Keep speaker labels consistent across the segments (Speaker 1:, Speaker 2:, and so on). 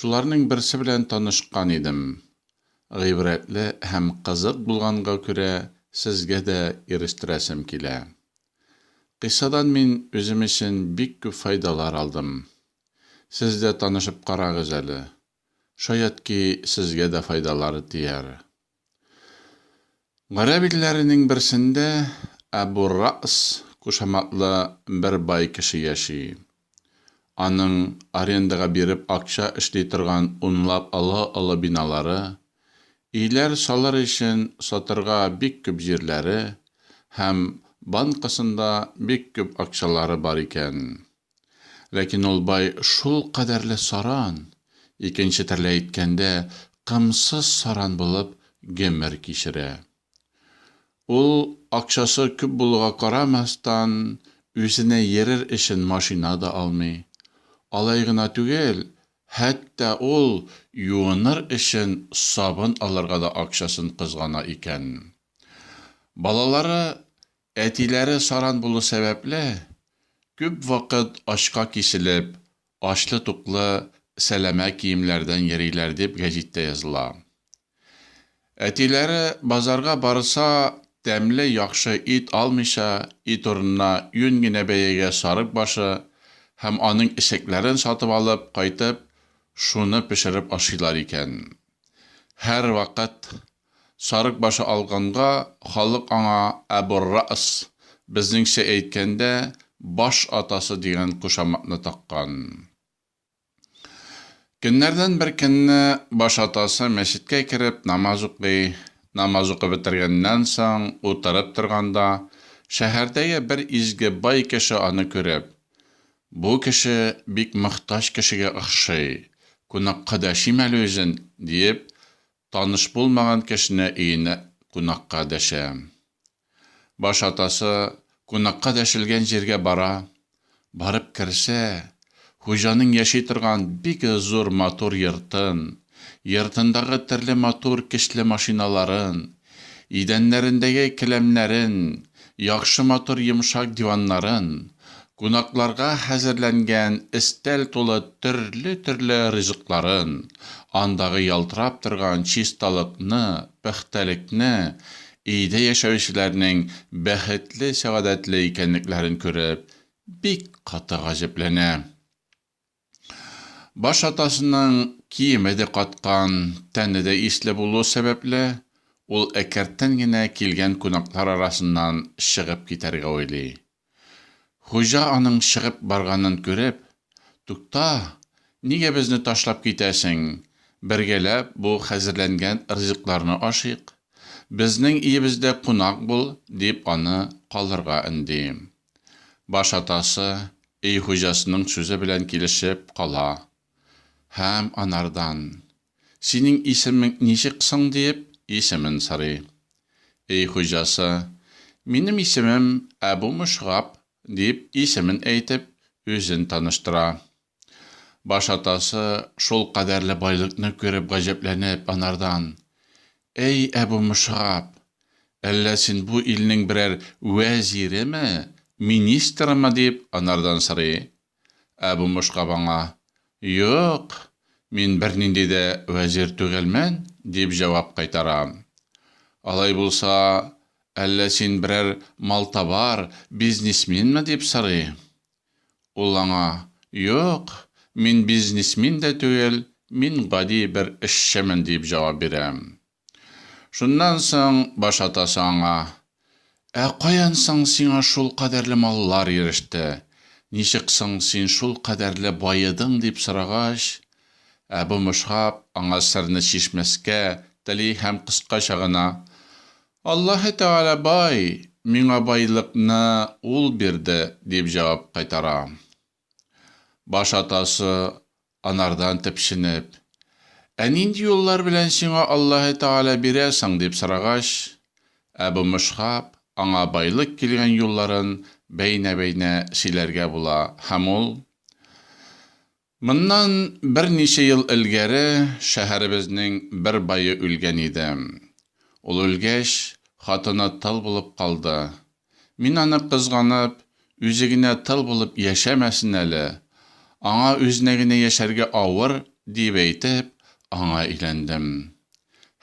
Speaker 1: Шуларның берсе белән танышкан идем. Гыйбрәтле һәм кызык булганга күрә, сезгә дә ирештерәсем килә. Кыйссадан мин үзем өчен бик күп файдалар алдым. Сез дә танышып карагыз әле. Шаят ки, сезгә дә файдалары тияр. Гарәп илләренең берсендә Әбу Ра'с кушаматлы бер бай кеше яши. Аның арендага биреп акча эшли торган унлап олы-олы биналары, өйләр салыр өчен сатырга бик күп җирләре һәм банкасында бик күп акчалары бар икән. Ләкин ул бай шул кадәрле саран, икенче терлә әйткәндә, кымсыз саран булып гомер кичерә. Ул, акчасы күп булуга карамастан, үзенә йөрер өчен машина да алмый. Алай гына түгел, хәтта ул юыныр өчен сабын алырга да акчасын кызгана икән. Балалары Әтиләре саран булу сәбәпле, күп вакыт ачка киселеп, ачлы-туклы сәләмә киемнәрдән йөриләр, дип гәҗиттә языла. Әтиләре базарга барса, тәмле, яхшы ит алмыйча, ит урынына юнь генә бәягә сарык башы һәм аның эчәкләрен сатып алып кайтып, шуны пешереп ашыйлар икән. Һәрвакыт Сарык башы алганга, халык аңа Әбу-р-Рәс, безнеңчә әйткәндә, баш атасы дигән кушаматны таккан. Көннәрдән бер көнне баш атасы мәчеткә кереп намаз укый. Намаз укып бетергәннән соң, утырып торганда, шәһәрдәге бер изге бай кеше аны күреп, Бу кеше бик мохтаҗ кешегә охшый, кунакка дәшим әле үзен, диеп, Таныш булмаган кешене өенә кунакка дәшә. Баш атасы кунакка дәшелгән җиргә бара. Барып керсә, хуҗаның яши торган бик зур матур йортын, йортындагы төрле матур кечле машиналарын, идәннәрендәге келәмнәрен Яхшы матур йомшак диваннарын, кунакларга хәзерләнгән өстәл тулы төрле-төрле ризыкларын, андагы ялтырап торган чисталыкны, пөхтәлекне, өйдә яшәүчеләрнең бәхетле-сәгадәтле икәнлекләрен күреп, бик каты гаҗәпләнә. Баш атасының киеме дә каткан, тәне дә исле булуы сәбәпле, ул әкерттән генә килгән кунаклар арасыннан чыгып китәргә уйлый. Хуҗа аның чыгып барганын күреп, Тукта, нигә безне ташлап китәсең, бергәләп бу хәзерләнгән ризыкларны ашыйк. Безнең иебездә кунак бул, дип аны калырга өнди. Баш атасы өй хуҗасының сүзе белән килешеп кала һәм анардан, Синең исемең ничек соң? диеп, исемен сорый. Өй хуҗасы, Минем исемем Әбу Мөшгаб, дип, исемен әйтеп, үзен таныштыра. Баш атасы, шул кадәрле байлыкны күреп гаҗәпләнеп, анардан, Әй Әбү Мөсгаб! Әллә син бу илнең берәр вәзиреме, министрымы? дип, анардан сорый. Әбү Мөсгаб аңа, Юк, мин бернинди дә вәзир түгелмен, дип җавап кайтара. Алай булса, әллә син берәр малтабар, бизнесменмы? дип сорый. Ул аңа, Юк, мин бизнесмен дә түгел, мин гади бер эшчемен, диеп җавап бирә. Шуннан соң баш атасы аңа, Ә каян соң сиңа шул кадәрле маллар иреште, ничек соң син шул кадәрле баедың, дип сорагач, Әбү Мөшгаб аңа серне чишмәскә тели һәм кыскача гына, Аллаһы Тәгалә бай, миңа байлыкны Ул бирде, дип җавап кайтара. Баш атасы, анардан төпченеп, Ә нинди юллар белән сиңа Аллаһы Тәгалә бирә соң? дип сорагач, Әбү Мөшгаб аңа байлык килгән юлларын бәйнә-бәйнә сөйләргә була һәм ул, Моннан берничә ел элгәре шәһәребезнең бер бае үлгән иде. Ул үлгәч, хатыны тол булып калды. Мин аны кызганып, үзе генә тол булып яшәмәсен әле, аңа үзенә генә яшәргә авыр, диеп әйтеп, аңа өйләндем.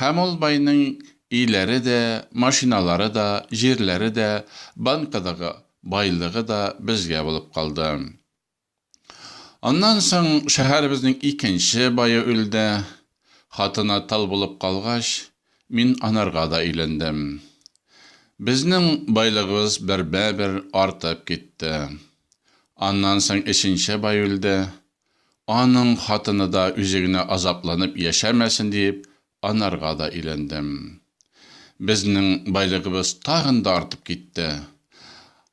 Speaker 1: Һәм ул байның өйләре дә, машиналары да, җирләре дә, банкадагы байлыгы да безгә булып калды. Аннан соң шәһәребезнең икенче бае үлде. Хатыны тол булып калгач, мин анарга да өйләндем. Безнең байлыгыбыз бермә-бер артып китте. Аннан соң өченче бай үлде. Аның хатыны да үзе генә азапланып яшәмәсен диеп, Анарга да өйләндем. Безнең байлыгыбыз тагын да артып китте.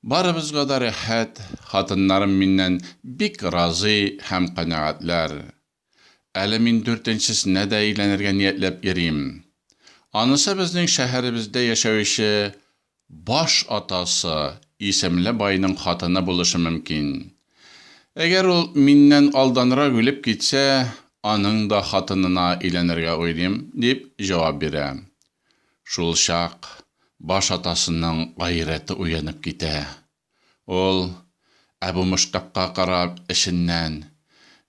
Speaker 1: Барыбызга да рәхәт, хатыннарым миннән бик разый һәм канәгатьләр. Әле мин дүртенчесенә дә өйләнергә ниятләп йөрим. Анысы безнең шәһәребездә яшәүче Баш атасы исемле байның хатыны булышы мөмкин. Әгәр ул миннән алданрак үлеп китсә, аның да хатынына өйләнергә уйлыйм, дип җавап бирә. Шулчак баш атасының гайрәте уянып китә. Ул, Әбу Мөштәкка карап, эченнән,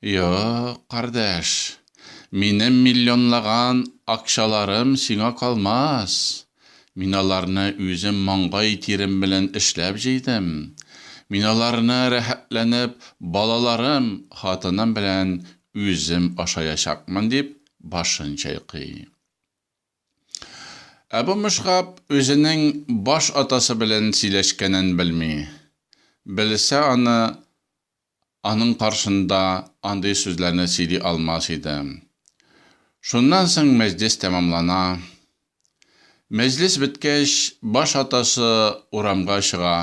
Speaker 1: Юк, кардәш, минем миллионлаган акчаларым сиңа калмас. Мин аларны үзем маңгай тирем белән эшләп җыйдым. Мин аларны рәхәтләнеп балаларым, хатыным белән үзем ашаячакмын, дип башын чайкый. Ә бу мышкап үзенең баш атасы белән сөйләшкәнен белми. Белсә аны, аның каршында андый сүзләрне сөйли алмас иде. Шуннан соң мәҗлес тәмамлана. Мәҗлес беткәч, баш атасы урамга чыга.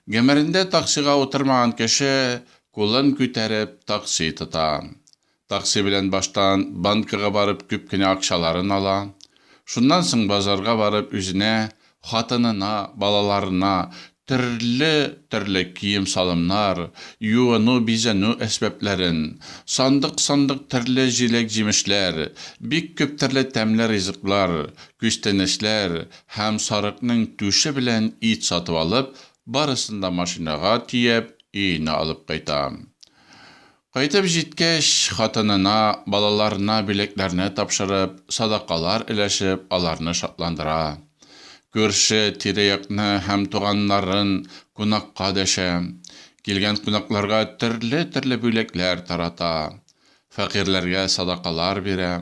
Speaker 1: Гомерендә таксига утырмаган кеше кулын күтәреп такси тота. Такси белән баштан банкага барып күп кенә акчаларын ала. Шуннан соң базарга барып үзенә, хатынына, балаларына төрле төрле кием-салымнар, юыну-бизәнү әсбапләрен, сандык-сандык төрле җиләк-җимешләр, бик күп төрле тәмле ризыклар, күчтәнәчләр һәм сарыкның түше белән ит сатып алып, барысын да машинага төяп, өенә алып кайта. Кайтып җиткәч, хатынына, балаларына билетләрне тапшырып, садакалар өләшеп, аларны шатландыра. Күрше, тирә-якны һәм туганнарын кунакка дәшә. Килгән кунакларга төрле-төрле бүләкләр тарата. Фәкыйрьләргә садакалар бирә.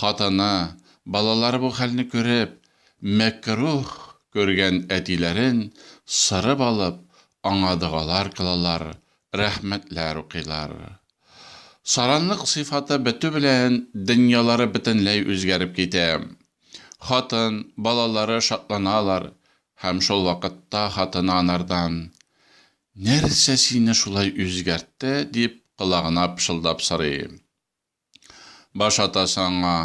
Speaker 1: Хатыны, балалары бу хәлне күреп, мәкруһ күргән әтиләрен сырып алып, аңа догалар кылалар, Рәхмәтләр укыйлар. Саранлык сыйфаты бетү белән дөньялары бөтенләй үзгәреп китә. Хатын, балалары шатланалар һәм шул вакытта хатыны анардан, Нәрсә сине шулай үзгәртте? дип колагына пышылдап сорый. Баш атасы аңа,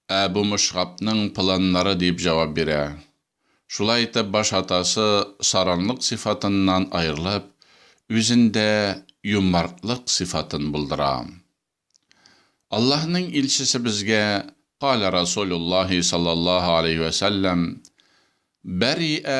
Speaker 1: Ә бу Мөшгапның планнары, дип җавап бирә. Шулай итеп, баш атасы саранлык сыйфатыннан аерылып, үзендә юмартлык сыйфатын булдыра. Аллаһның илчесе безгә, Каля Расулюллаһи саллаллаһу аләйһи вә сәлләм, Бәрриә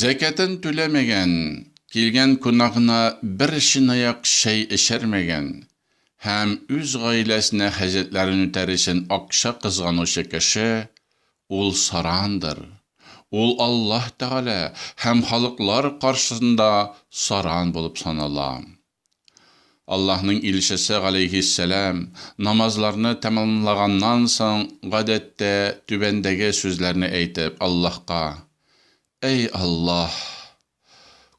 Speaker 1: Зәкятен түләмәгән, килгән кунагына бер чынаяк чәй эчермәгән һәм үз гаиләсенә хаҗәтләрен үтәр өчен акча кызганучы кеше, ул сарандыр. Ул Аллаһ Тәгалә һәм халыклар каршысында саран булып санала. Аллаһның илчесе, галәйһиссәлам, намазларны тәмамлаганнан соң, гадәттә, түбәндәге сүзләрне әйтеп, Аллаһка, Әй Аллаһ!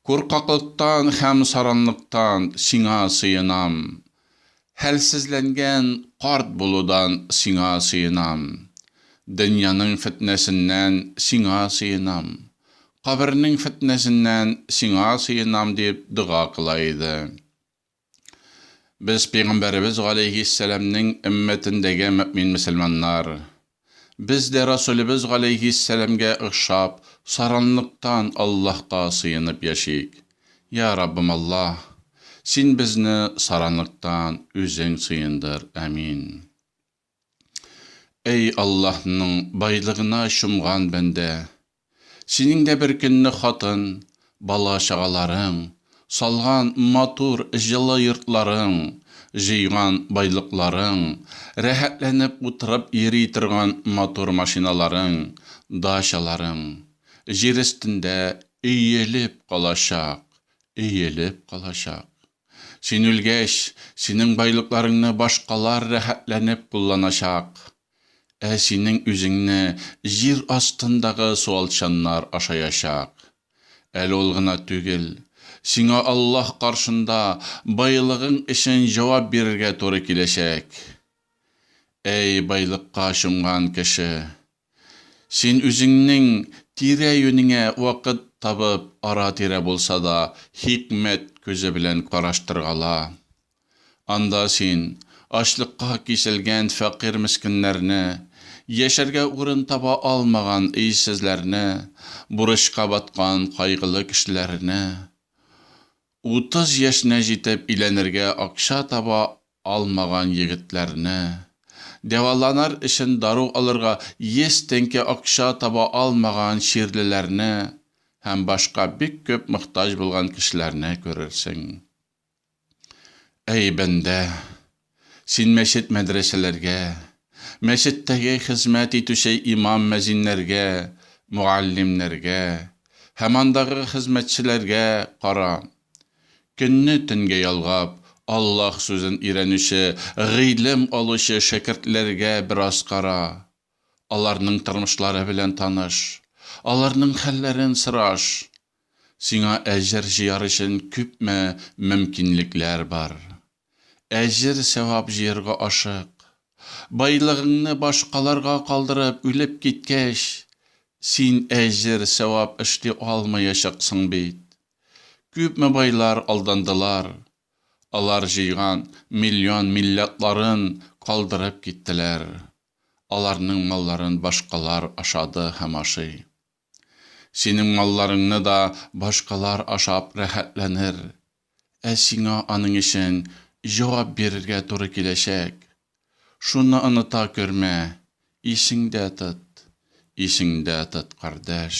Speaker 1: Куркаклыктан һәм саранлыктан Сиңа сыенам. Хәлсезләнгән карт булудан сиңа сыенам, Дөньяның фетнәсеннән сиңа сыенам, Кабернең фетнәсеннән сиңа сыенам, дип дога кыла иде. Без Пәйгамбәребез галәйһиссәламнең өммәтендәге мөэмин-мөселманнар, Без дә Расулебез галәйһиссәламгә охшап, саранлыктан Аллаһка сыенып яшик. Йа Раббым Аллаһ! Син безне саранлыктан Үзең сыендыр. Әмин. Әй Аллаһның байлыгына чумган бәндә! Синең дә бер көнне хатын, бала-чагаларың, салган матур, җылы йортларың, җыйган байлыкларың, рәхәтләнеп утырып йөри торган матур машиналарың, дачаларың, җир өстендә өелеп калачак, өелеп калачак. Син үлгәч, синең байлыкларыңны башкалар рәхәтләнеп кулланачак. Ә синең үзеңне җир астындагы суалчаннар ашаячак. Әле ул гына түгел, сиңа Аллаһ каршында байлыгың өчен җавап бирергә туры киләчәк. Әй, байлыкка чумган кеше! Син үзеңнең тирә-юнеңә вакыт табып, ара-тирә булса да хикмәт күзе белән караштыргала. Анда син ачлыкка киселгән фәкыйрь-мескеннәрне, яшәргә урын таба алмаган өйсезләрне, бурычка баткан кайгылы кешеләрне, утыз яшенә җитеп өйләнергә акча таба алмаган егетләрне, дәваланыр өчен дару алырга йөз тәңкә акча таба алмаган чирлеләрне һәм башка бик күп мохтаҗ булган кешеләрне күрерсең. Әй, бәндә! Син мәчет-мәдрәсәләргә, мәчеттәге хезмәт итүче имам-мәзиннәргә, мөгаллимнәргә һәм андагы хезмәтчеләргә кара. Көнне төнгә ялгап, Аллаһ сүзен өйрәнүче, гыйлем алучы шәкертләргә бераз кара. Аларның тормышлары белән таныш. Аларның хәлләрен сораш. Сиңа әҗер җыяр өчен күпме мөмкинлекләр бар. Әҗер-сәвап җыярга ашык. Байлыгыңны башкаларга калдырып үлеп киткәч, син әҗер-сәвап эшли алмаячаксың бит. Күпме байлар алдандылар. Алар җыйган миллион милләтларын калдырып киттеләр. Аларның малларын башкалар ашады һәм ашый. Синең малларыңны да башкалар ашап рәхәтләнер, ә сиңа аның өчен җавап бирергә туры киләчәк. Шуны оныта көрмә, исеңдә тот, исеңдә тот, кардәш.